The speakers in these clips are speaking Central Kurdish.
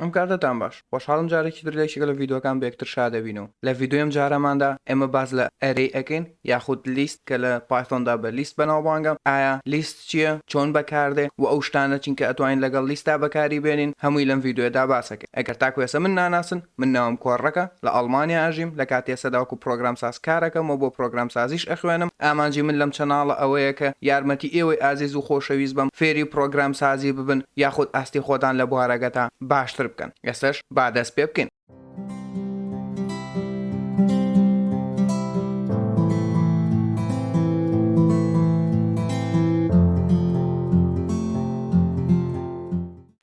ئەم کاتەتان باش. خۆشحاڵم جارێکی تر لە یەکێک لە ڤیدۆکان بە یەکتر شادەبین و لە ڤیدۆی ئەم جارەماندا ئێمە باس لە ئەرەی ئەکەین یاخود لیست کە لە پایثۆندا بە لیست بەناوبانگە ئایا لیست چیە چۆن بەکاردێ و ئەو شتانە چین کە ئەتوانین لەگەڵ لیستدا بەکاری بێنین هەمووی لەم ڤیدۆیەدا باسەکەین ئەگەر تاکو ئێسە من ناناسن من ناوم کۆرڕەکە لە ئەڵمانیا ئەژیم، لە کاتی ئێستادا وەکو پڕۆگرامساز کارەکەم و بۆ پڕۆگرامسازیش ئەخوێنم، ئامانجی من لەم چەناڵە ئەوەیە کە یارمەتی ئێوەی ئازیز و خۆشەویست بەم فێری پڕۆگرامسازی ببن یاخود ئاستی خۆتان لە بوارەگەتا باشتر بکەن، ئێستەش با دەست پێ بکەین.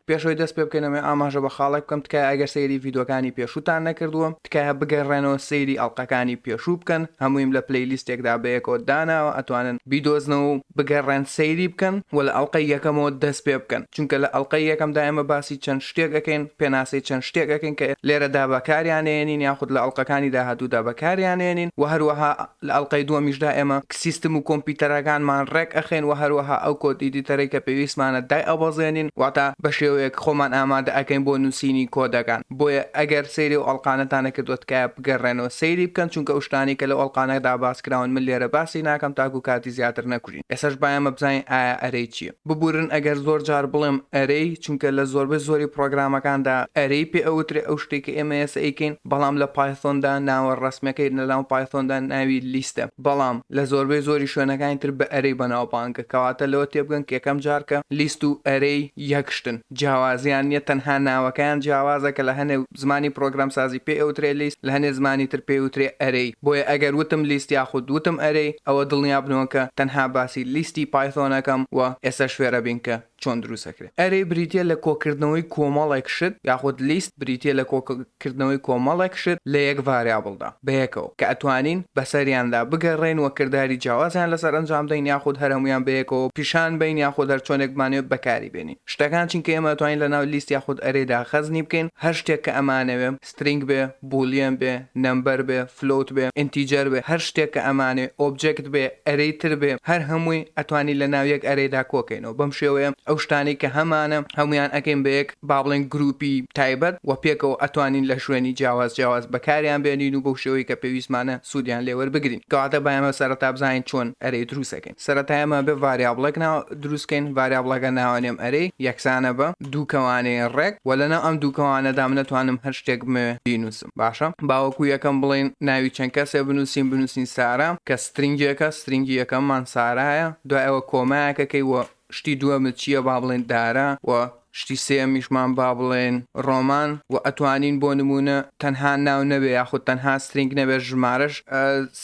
پێش ئەوەی دەست پێ بکەین ئەمەوێ ئاماژە بە خاڵێک بکەم تکایە ئەگەر سەیری ڤیدۆکانی پێشووتان نەکردووە تکایە بگەڕێنەوە سەیری ئەڵقەکانی پێشوو بکەن هەموویم لە پلەی لیستێکدا بەیەکەوە داناوە ئەتوانن بیدۆزنەوە و بگەڕێن سەیری بکەن وە لە ئەڵقەی یەکەمەوە دەست پێ بکەن چونکە لە ئەڵقەی یەکەمدا ئێمە باسی چەند شتێک ئەکەین پێناسەی چەند شتێک ئەکەین کە لێرەدا بەکاریانێنین یاخود لە ئەڵقەکانی داهاتوودا بەکاریانێنین وە هەروەها لە ئەڵقەی دووەمیشدا ئێمە سیستم و کۆمپیوتەرەکانمان ڕێک ئەخەین و هەروەها ئەو کۆد ئیدیتەرەی کە پێویستمانە دایئەبەزێنین واتە بە شێوەیەک خۆمان ئامادە ئەکەین بۆ نووسینی کۆدەکان بۆیە ئەگەر سەیری ئەو ئەڵقانەتان نەکردووە تکایە بگەڕێنەوە سەیری بکەن چونکە ئەو شتانەی کە لەو ئەڵقانەدا باس کراون من لێرە باسی ناکەم تاکوو کاتی زیاتر نەکوژم. ببورین ئێساش با ئێمە بزانین ئایا ئەرەی چیە ببورن ئەگەر زۆر جار بڵێم ئەرەی چونکە لە زۆربەی زۆری پڕۆگرامەکاندا ئەرەی پێ ئەوترێ ئەو شتەی کە ئێمە ئێستا ئەیکەین بەڵام لە پایثۆندا ناوە ڕەسمیەکەی لەناو پایثۆندا ناوی لیستە بەڵام لە زۆربەی زۆری شوێنەکانی تر بە ئەرەی بەناوبانگە کەواتە لەوە تێبگەن کە یەکەم جار کە لیست و ئەرەی یەک شتن. جیاوازیان نیە تەنها ناوەکەیان جیاوازە کە لە هەنێ زمانی پڕۆگرامسازی پێ ئەوترێ لیست لە هەنێ زمانی تر پێی وترێ ئەرەی بۆیە ئەگەر وتم لیست یاخود وتم ئەرەی ئەوە دڵنیا بنەوە کە تەنها باسی لیستی پایثۆن ئەکەم و ئێستا شوێرە بین کە چۆن دروست ئەکرێ ئەرەی بریتیە لە کۆکردنەوەی کۆمەڵێک شت یاخود لیست بریتیە لە کۆ کردنەوەی کۆمەڵێک شت لە یەک ڤاریابڵدا بەیەکەوە کە ئەتوانین بەسەریاندا بگەڕێین و کرداری جیاوازیان لەسەر ئەنجام دەین یاخود هەر هەموویان بەیەکەوە پیشان بەین یاخود هەر چۆنێک بمانەوێت بەکاری بێنین شتەکان چینکە ئێمە ئەتوانین لەناو لیست یاخود ئەرێدا خەزنی بکەین هەر شتێک کە ئەمانەوێ سترینگ بێ بولیەن بێ نەمبەر بێ فلۆوت بێ ئینتیجەر بێ هەر شتێک کە ئەمانەوێ ئۆبجێکت بێ ئەرێی تر بێ هەر هەمووی ئەتوانین لەناو یەک ئەرێدا کۆکەینەوە بەم شێوەیە ئەو شتانەی کە هەمانە هەموویان ئەکەین بە یەک با بڵێین گرووپی تایبەت و پێکەوە ئەتوانین لە شوێنی جیاواز جیاواز بەکاریان بێنین و بەو شێوەی کە پێویستمانە سوودیان لێ وەربگرین کەواتە با ئێمە سەرەتا بزانین چۆن ئەرێ دروست ئەکەین سەرەتا ئێمە ئەبێ ڤاریابڵێک نا دروست کەین ڤاریابڵەکە ناوەنێم ئەرێی یەکسانە بە دوو کەوانەی ڕێک وە لەناو ئەم دوو کەوانەدا من ئەتوانم هەر شتێک بمەوێ بینووسم باشە با وەکوو یەکەم بڵێین ناوی چەند کەسێ بنووسین بنووسین سارا کە سترینگێکە سترینگی یەکەممان سارایە دوای ئەوە کۆمایەکەکەی وە شتی دووەمت چییە با بڵێین دارا و شتی سێیەمیشمان با بڵێین ڕۆمان و ئەتوانین بۆ نموونە تەنها ناو نەبێ یاخود تەنها سترینگ نەبێ ژمارەش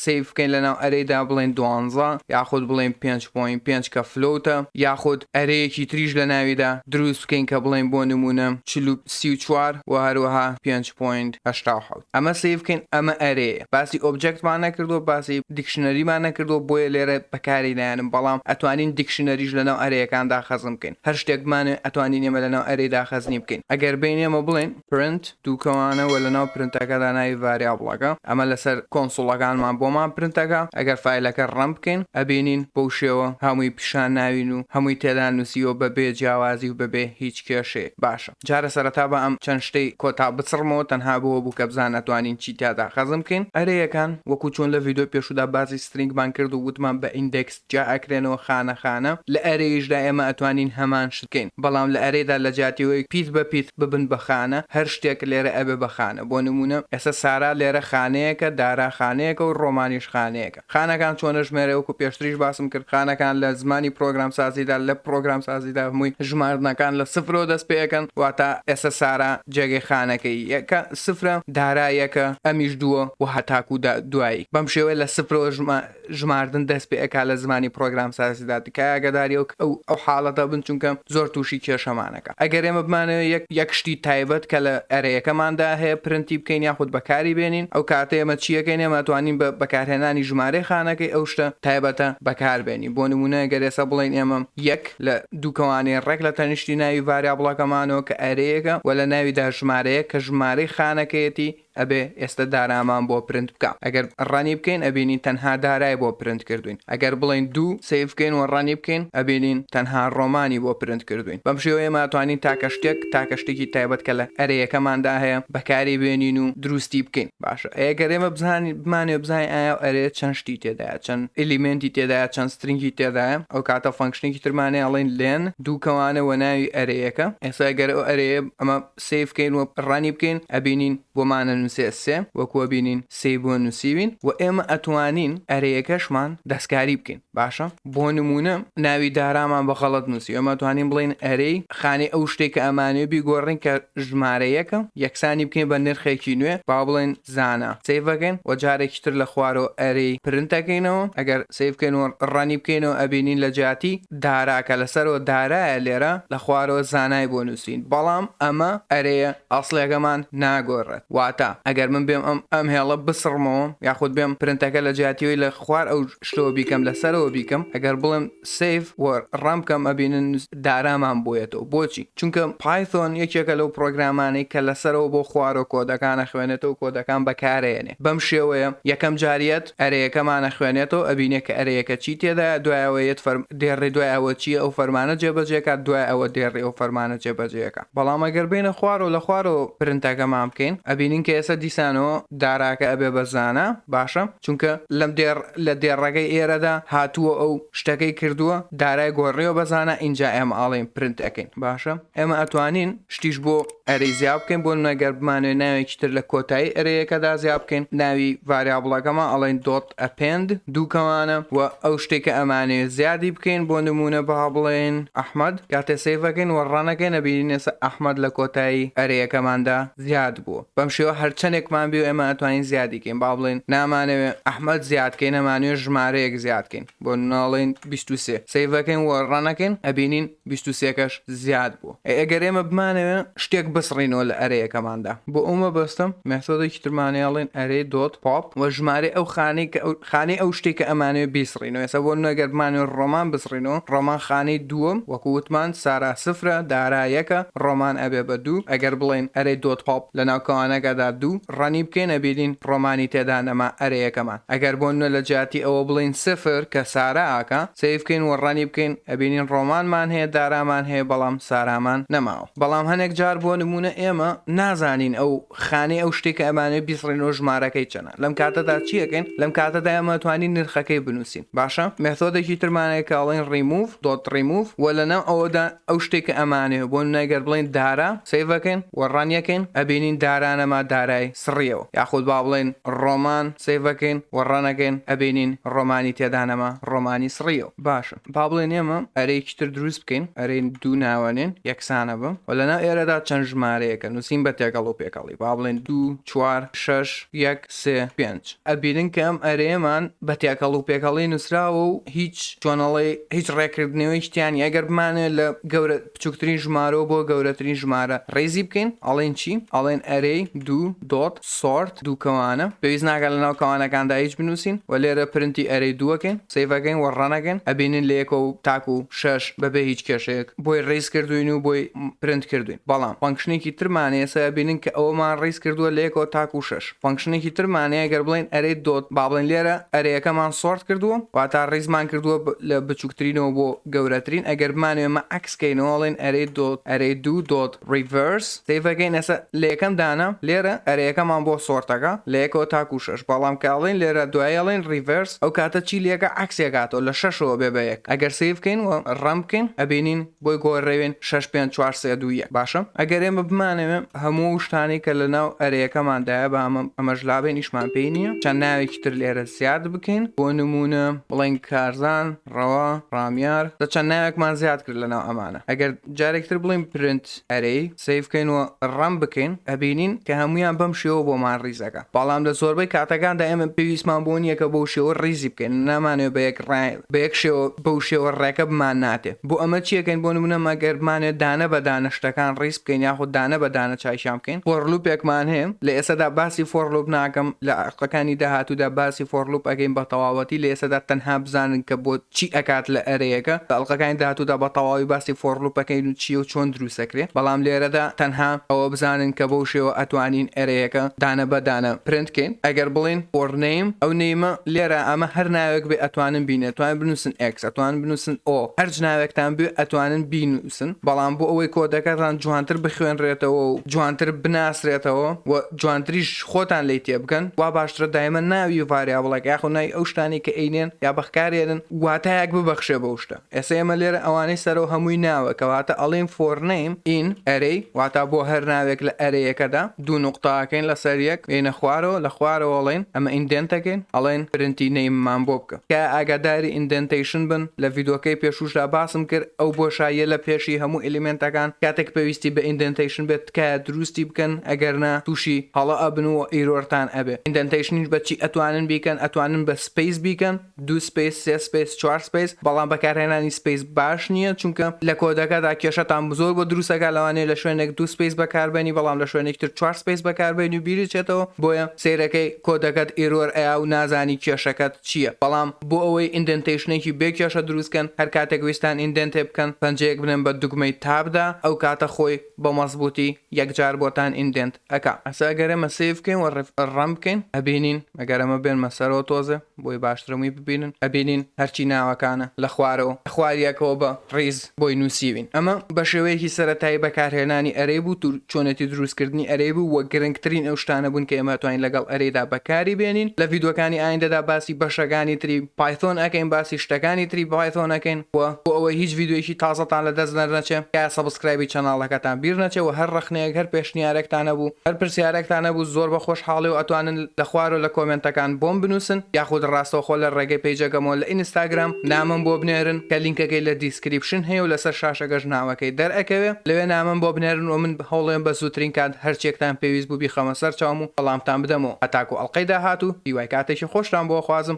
سەیڤ بکەین لەناو ئەرێیدا بڵێین دوانزە یاخود بڵێین پێنج پۆینت پێنج کە فلۆوتە یاخود ئەرێیەکی تریش لەناویدا دروست بکەین کە بڵێین بۆ نموونە چل و سی و چوار و هەروەها پێنج پۆینت هەشتا و حەوت. ئەمە سەیر بکەین ئەمە ئەرێیە باسی ئۆبجەکتمان نەکردووە باسی دیکشنەریمان نەکردووە بۆیە لێرە بەکاری نایەنم بەڵام ئەتوانین دیکشنەریش لەناو ئەرێیەکان داخەزن بکەین هەر شتێک بمانەوێ ئەتوانین ئێمە لەناو ئەرێی داخەزنی بکەین ئەگەر بێین ئێمە بڵێین پرنت دووکەوانە وە لەناو پرنتەکەدا ناوی ڤاریابڵەکە ئەمە لەسەر کۆنسوڵەکانمان بۆمان پرنت ئەکا ئەگەر فایلەکە ڕەن بکەین ئەبینین بەو شێوە هەمووی پیشان ناوین و هەمووی تێدا نووسیوە بەبێ جیاوازی و بەبێ هیچ کێشەیەک باشە جارە سەرەتا با ئەم چەند شتەی کۆتا بچڕمەوە تەنها بۆوە بوو کە بزان ئەتوانین چی تیادا خەزن بکەین ئەرێیەکان وەکو چۆن لە ڤیدۆی پێشودا باسی سترینگمان کرد و وتمان بە ئیندێکس جیا ئەکرێنەوە خانە خانە لە ئەرێیشدا ئێمە ئەتوانین هەمان شت کەین بەڵام لە ئەرێدا لە جیاتیەوەی پیت بە پیت ببن بە خانە هەر شتێک لێرە ئەبێ بە خانە بۆ نمونە ئێستا سارا لێرە خانەیەکە دارا خانەیەکە و ڕۆمانیش خانەیەکە. خانەکان چۆن ئەژمێرێ وەکو پێشتریش باسم کرد خانەکان لە زمانی پرۆگرام سازیدا لە پرۆگرام سازیدا هەمووی ژماردنەکان لە سفرەوە دەست پێ ئەکەن واتە ئێستا سارا جێگەی خانەکە یەکە سفرە دارا یەکە ئەمیش دووە و هەتاکوو دا دوایی بەم شێوەیە لە سفرەوە ژما ژماردن دەست پێ ئەکا لە زمانی پرۆگرام سازیدا تکایە ئاگاداری ئەو ئەو حاڵەتە بن چونکە زۆر تووشی کێشەمانە. ئەرەیەکە. ئەگەر ئێمە بمانەوێت یەک یەک شتی تایبەت کە لە ئەرەیەکەماندا هەیە پرنتی بکەین یاخود بەکاری بێنین ئەو کاتە ئێمە چی ئەکەین ئێمە ئەتوانین بە بەکارهێنانی ژمارەی خانەکەی ئەو شتە تایبەتە بەکار بێنین بۆ نموونە ئەگەر ئێستا بڵێین ئێمە یەک لە دووکەوانەی ڕێک لە تەنیشتی ناوی ڤاریابڵەکەمانەوە کە ئەرەیەکە وە لە ناویدا ژمارەیەک کە ژمارەی خانەکەیەتی ئەبێ ئێستە دارامان بۆ پرنت بکا ئەگەر ڕەنی بکەین ئەبینین تەنها دارای بۆ پرنت کردوین ئەگەر بڵێین دوو سەیڤ بکەین و ڕەنی بکەین ئەبینین تەنها ڕۆمانی بۆ پرنت کردوین بەم شێوەیە ئێمە ئەتوانین تاکە شتێک تاکە شتێکی تایبەت کە لە ئەرێیەکەماندا هەیە بەکاری بێنین و دروستی بکەین باشە ئەیە گەر ئێمە بزانین بمانێ بزانین ئایا ئەو ئەرێیە چەند شتی تێدایە چەند ئیلیمێنتی تێدایە چەند سترینگی تێدایە ئەو کاتە فەنکشنێکی ترمانەیە ئەڵێن لێن دوو کەوانە وە ناوی ئەرێیەکە ئێستا گەر ئەو ئەرێیە ئەمە سەیر بکەین و ڕانی بکەین ئەبینین بۆمانە نوسێ سێ وەکو ئەبینین سێی بۆ نوسیوین و ئێمە ئەتوانین ئەرێیەکەشمان دەستکاری بکەین باشە بۆ نمونە ناوی دارامان بە غەڵەت نوسی ئێمە ئەتوانین بڵێین ئەرێی خانەی ئەو شتەی کە ئەمانەوێ بیگۆڕین کە ژمارە یەکە یەکسانی بکەین بە نرخێکی نوێ با بڵێین زانا سەیڤ ئەکەین وە جارێکی تر لە خوارۆ ئەرێی پرنت ئەکەینەوە ئەگەر سەیڤ بکەین و ڕەنی بکەینەوە ئەبینین لە جیاتی دارا کە لەسەرەوە دارایە لێرە لە خوارەوە زانای بۆ نوسین بەڵام ئەمە ئەرێیە ئەسڵیەکەمان ناگۆرێت واتە ئەگەر من بێم ئەم ئەم هێڵە بسڕمەوە یاخود بێم پرنتەکە لە جیاتیەوەی لە خوار ئەو شتەوە بیکەم لەسەرەوە بیکەم ئەگەر بڵێم سەیڤ وە ڕەن بکەم ئەبینن دارامان بۆیەتەوە بۆچی چونکە پایثۆن یەکێکە لەو پڕۆگرامانەی کە لەسەرەوە بۆ خوارۆ کۆدەکان ئەخوێنێتەوە کۆدەکان بەکارئەیەنێ بەم شێوەیە یەکەم جار یەت ئەرێیەکەمان ئەخوێنێتەوە ئەبینێ کە ئەرێیەکە چی تێدایە دوای ئەوە یەت فەرم دێڕێ دوای ئەوە چیە ئەو فەرمانە جێبەجێکات دوای ئەوە دێڕێ ئەو فەرمانە جێبەجێیەکا بەڵام ئەگەر بێینە خوارۆ لە خوارۆ پرنتەکەمان بکەین ئەبینین کە ئێسە دیسانەوە داراکە ئەبێ بە زانا باشە چونکە لەم دێڕ لە دێڕەکەی ئێرەدا هاتووە و شتەکەی کردووە، دارای گۆڕیوە بە زانا ئینجا ئێمە ئەڵێین پرنت ئەکەین باشە ئێمە ئەتوانین شتیش بۆ ئەرێی زیا بکەین بۆ نمونە گەر بمانەوێ ناوێکی تر لە کۆتایی ئەرێیەکەدا زیا بکەین ناوی ڤاریابڵەکەمان ئەڵێین دۆت ئەپێند دوو کەمانە و ئەو شتەی کە ئەمانەوێ زیادی بکەین بۆ نمونە با بڵێین ئەحمەد کاتێ سەیڤەکەین و ڕەنەکەین ئەبینین ئێستا ئەحمەد لە کۆتایی ئەرێیەکەماندا زیاد بوو بەم شێوە هەر چەنێکمان بێ و ئێمە ئەتوانین زیادی کەین با بڵێین نامانەوێ ئەحمەد زیاد کەین ئەمانەوێ ژمارەیەک زیاد کەین بۆ ناڵێین بیست و سێ سەیڤ ئەکەین و ڕەن ئەکەین ئەبینین بیست و سێ کەش زیاد بوو ئەی ئەگەر ئێمە بمانەوێ شتێک بسڕینەوە لە ئەرێیەکەماندا بۆ ئەو مەبەستەم مێثۆدێکی ترمانەیە ئەڵێن ئەرێی دۆت پۆپ وە ژمارەی ئەو خانەی کە خانەی ئەو شتێکە ئەمانەوێ بیسڕین. بسڕینەوە ئێستا بۆ نمونە گەر بمانەوێت ڕۆمان بسڕینەوە ڕۆمان خانەی دووەم وەکو وتمان سارا سفرە دارا یەکە ڕۆمان ئەبێ بە دوو ئەگەر بڵێین ئەرێ دۆت هۆپ لە ناو کەوانەکەدا دوو ڕەنی بکەین ئەبینین ڕۆمانی تێدا نەما ئەرێ یەکەمان ئەگەر بۆ نمونە لە جیاتی ئەوە بڵێین سفر کە سارا ئاکا سەیر بکەین وە ڕەنی بکەین ئەبینین ڕۆمانمان هەیە دارامان هەیە بەڵام سارامان نەماوە بەڵام هەنێک جار بۆ نمونە ئێمە نازانین ئەو خانەی ئەو شتەی کە ئەمانەوێت بیسڕینەوە ژمارەکەی چەنە. لەم کاتەدا چی ئەکەین لەم کاتەدا ئێمە ئەتوانین نرخەکەی بنووسین باشە مێثۆدێکی ترمان هەیە کە ئەڵێن remove dot remove و لەناو ئەوەدا ئەو شتێک کە ئەمانەیە بۆ نمونە گەر بڵێین دارا سەیڤەکەین و ڕەنیەکەین ئەبینین دارا نەما دارای سڕیەوە یاخود با بڵێین ڕۆمان سەیڤەکەین و ڕەنەکەین ئەبینین ڕۆمانی تێدا نەما ڕۆمانی سڕیەوە باشە با بڵێن ئێمە ئەرەیەکی تر دروست بکەین ئەرەین دوو ناوەنێن یەکسانە بم و لەناو ئێرەدا چەند ژمارەیەکە نووسین بە تێکەڵ و پێکەڵی با بڵێن دوو چوار، شەش، یەک، سێ، پێنج، ئەبینن کە ئەم ئەرێیەمان بە تێکەڵ و پێکەڵی نووسراوە و هیچ چۆنەڵی هیچ ڕێکردنەوەیەکی تیا نیە، ئەگەر بمانەوێت لە گەورە بچووکترین ژمارەوە بۆ گەورەترین ژمارە ڕیزی بکەین ئەڵێین چی؟ ئەڵێین ئەرێی، دوو، دۆت، سۆرت، دوو کەوانە، پێویست ناکات لەناو کەوانەکاندا هیچ بنووسین و لێرە پرنتی ئەرێی دووەکەین. سەیڤ ئەگەین وە ڕەن ئەگەن ئەبینن لە یەکەو تاکو شەش بەبێ هیچ کێشەیەک بۆی ڕیز کردووین و بۆی پرنت کردووین بەڵام فەنکشنێکی ترمان هەیە سەیڤ ئەبینن کە ئەوەمان ڕیز کردووە لە یەکەوە تاکو شەش فەنکشنێکی ترمان هەیە گەر بڵێین ئەرێی دۆت با بڵێین لێرە ئەرێیەکەمان سۆرت کردووە واتا ڕیزمان کردووە لە بچووکترینەوە بۆ گەورەترین ئەگەر بمانەوێ ئەمە عەکس کەینەوە ئەڵێین ئەرێی دۆت ئەرێی دوو دۆت Reverse سەیڤ ئەکەین ئێستا لە یەکەم دانە لێرە ئەرێیەکەمان بۆ سۆرتەکە لە یەکەوە تاکو شەش بەڵام کە ئەڵێن لێرە دوایی ئەڵێن Reverse ئەو کاتە چی لەکە عەکسی ئەکاتەوە لە شەشەوە بێ بە یەک ئەگەر سەیڤ بکەین و ڕەن بکەین ئەبینین بۆی گۆرێوین شەش پێنج چوار سێ دوو یەک باشە ئەگەر ئێمە بمانەوێ هەموو ئەو شتانەی کە لە ناو ئەرێیەکەماندایە بە ئەمە ئەمەش لابێن ئیشمان پێی نییە چەند ناوێکی تر لێرە زیاد بکەین بۆ نموونە بڵێن کارزان ڕەوا، ڕامیار، دە چەند ناوێکمان زیاد کرد لەناو ئەمانە ئەگەر جارێکی تر بڵێین پرنت ئەرێی سەیڤ کەین و ڕەن بکەین ئەبینین کە هەموویان بەم شێوە بۆمان ڕیز ئەکا بەڵام لە زۆربەی کاتەکاندا ئێمە پێویستمان بۆ نییە کە بەو شێوە ڕیزی بکەین و نامانەوێ بە یەک ڕێ بە یەک شێوە بەو شێوە ڕێکە بمان ناتێ بۆ ئەمە چی ئەکەین بۆ نموونە مەگەر بمانەوێ دانە بە دانە شتەکان ڕیز بکەین یاخود دانە بە دانە چاکیان بکەین فۆر لووپێکمان هەیە لە ئێستەدا باسی فۆر لووپ ناکەم لە دەقەکانی داهاتوودا باسی فۆر لوپ ئەکەین بە تەواوەتی لە ئێستادا تەنها بزانن کە بۆ چی ئەکات لە ئەرێیەکە لە ئەڵقەکانی داهاتوودا بە تەواوی باسی فۆر لوپ ئەکەین و چیە و چۆن دروست ئەکرێ بەڵام لێرەدا تەنها ئەوە بزانن کە بەو شێوە ئەتوانین ئەرێیەکە دانە بە دانە پرنت کەین ئەگەر بڵێین فۆر نەیم ئەو نەیمە لێرە ئەمە هەر ناوێک بێ ئەتوانن بینێ ئەتوانن بنووسن ئێکس ئەتوانن بنووسن ئۆ هەرچ ناوێکتان بوێ ئەتوانن بینوو. بنووسن، بەڵام بۆ ئەوەی کۆدەکەتان جوانتر بخوێنرێتەوە و جوانتر بناسرێتەوە و جوانتریش خۆتان لێی تێبگەن، وا باشترە دایمە ناوی ڤاریابڵێک یاخود ناوی ئەو شتانەی کە ئەینێن یا بەخکارێنن واتایەک ببەخشێ بەو شتە. ئێستا ئێمە لێرە ئەوانەی سەرەوە هەمووی ناوە، کەواتە ئەڵێین for name in array واتا بۆ هەر ناوێک لە ئەرێیەکەدا. دوو نوقتە ئەکەین لەسەر یەک دێینە خوارەوە لە خوارەوە ئەڵێین ئەمە ئیندێنت ئەکەین ئەڵێن پرنتی نەیممان بۆ بکە تکایە ئاگاداری ئیندێنتەیشن بن لە ڤیدۆکەی پێشووشدا باسم کرد ئەو بۆشاییە لە پێشی هەموو ئیلیمێنتەکان کاتێک پێویستی بە ئیندێنتەیشن بێت تکایە درووستی بکەن ئەگەر نا تووشی هەڵە ئەبن و ئیرۆرتان ئەبێ ئیندێنتەیشنیش بە چی ئەتوانن بیکەن ئەتوانن بە سپەیس بیکەن دوو سپەیس سێ سپەیس چوار سپەیس بەڵام بەکارهێنانی سپەیس باش نیە چونکە لە کۆدەکەدا کێشەتان بزۆر بۆ دروستەکا لەوانەیە لە شوێنێک دوو سپەیس بەکاربەنی بەڵام لە شوێنێکی تر چوار سپەیس بەکاربەنی و بیرت چێتەوە بۆیە سەیرەکەی کۆدەکەت ئیرۆر ئەیا و نازانی کێشەکەت چیە بەڵام بۆ ئەوەی ئیندێنتەیشنێکی بێ کێشە دروست کەن هەر کاتێک ویستان ئیندێنتێ بکەن پەنجەیەک بنێن بە دوگمەی تاب دا ئەو کاتە خۆی بە مەزبوتی یەکجار بۆتان ئیندێنت ئەکا ئەسە ئەگەر ئێمە سەیر بکەین وە ڕەم بکەین ئەبینین ئەگەر ئەمە بێنمە سەرەوە تۆزێ بۆی باشترە مووی ببینن ئەبینین هەرچی ناوەکانە لە خوارەوە خواریەکەوە بە ڕیز بۆی نووسیوین ئەمە بە شێوەیەکی سەرەتایی بەکارهێنانی ئەرێی بوو و چۆنێتی دروستکردنی ئەرێی بوو وە گرنگترین ئەو شتانە بوون کە ئێمە توانین لەگەڵ ئەرێیدا بەکاری بێنین لە ڤیدۆکانی ئایندەدا باسی بەشەکانی تری پایثۆن ئەکەین باسی شتەکانی تری پایثۆن ئەکەین وە بۆ ئەوەی هیچ ڤیدیۆیەکی تازەتان لە دەست دەرنەچێ تکایە سەبسکرایبی چەناڵەکەتان بیر نەچێ وە هەر ڕەخنەیەک هەر پێشنیارێکتان هەبوو هەر پرسیارەکتان هەبوو زۆر بە خۆشحاڵی و ئەتوانن لە خوارۆ لە کۆمێنتەکان بۆم بنوسن یاخود ڕاستەوخۆ لە ڕێگەی پەیجەکەمەوە لە ئینستاگرام نامەم بۆ بنێرن کە لینکەکەی لە دیسکریپشن هەیە و لەسەر شاشەکەش ناوەکەی دەر ئەکەوێ لەوێ نامەم بۆ بنێرن وە من هەوڵێم بە زووترین کات هەر چیەکتان پێویست بوو بیخەمە سەر چاوم و وەڵامتان بدەمەوە هەتاکو ئەڵقەی داهاتوو هیوای کاتێکی خۆشتان بۆ ئەخوازم.